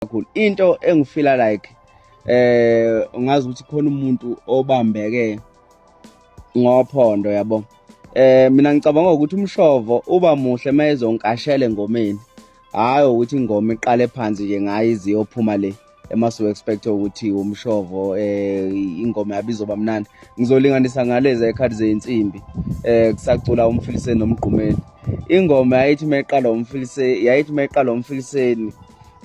kakhulu into engifila like eh ungazi ukuthi khona umuntu obambeke ngophondo yabo eh mina ngicabanga ukuthi umshovo uba muhle mayezonkashela engomeni hayi ukuthi ingoma iqale phansi nje ngayo iziyophuma le emasu expect ukuthi umshovo eh ingoma yabizoba mnandi ngizolinganisa ngalezi ekhadi zeinsimbi eh kusacula umfiliseni nomgqumeni ingoma yayithi meqala umfiliseni yayithi meqala umfiliseni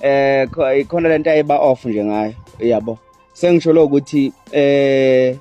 eh ikhona lento ayiba off nje ngayo yabo sengisho lo ukuthi eh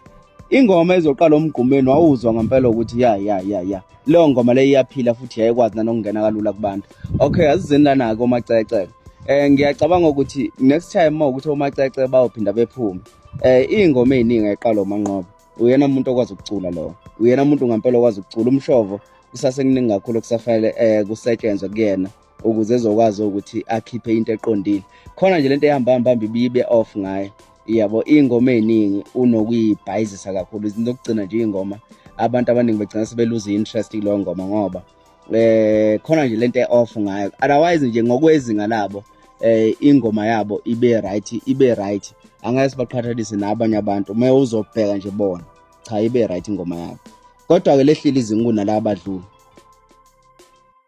ingoma ezoqala umgqumeni wawuzwa ngempela ukuthi ya ya ya ya leyo ngoma leyo iyaphila futhi yayikwazi nanokungena kalula kubantu okay asizeni lana ke omacecele eh ngiyacabanga ukuthi next time uma ukuthi omacece bawuphinda bephume eh ingoma eziningi eqalo manqobo uyena umuntu okwazi ukucula lo uyena umuntu ngampela okwazi ukucula umshovo kusase kuningi kakhulu kusafanele eh kusetshenzwe kuyena ukuze ezokwazi ukuthi akhiphe into eqondile khona nje lento ehamba hamba hamba ibibe off ngayo iyabo ingoma eningi unokuyibhayizisa kakhulu izinto okugcina nje ingoma abantu abaningi begcina sebeluza interest kulo ngoma ngoba eh khona nje lento eoff ngayo otherwise nje ngokwezinga labo eh ingoma yabo ibe right ibe right angeke sibaqhathanise nabanye abantu uma uzobheka nje bona cha ibe right ingoma yabo kodwa ke lehlile izingu nalabo badlula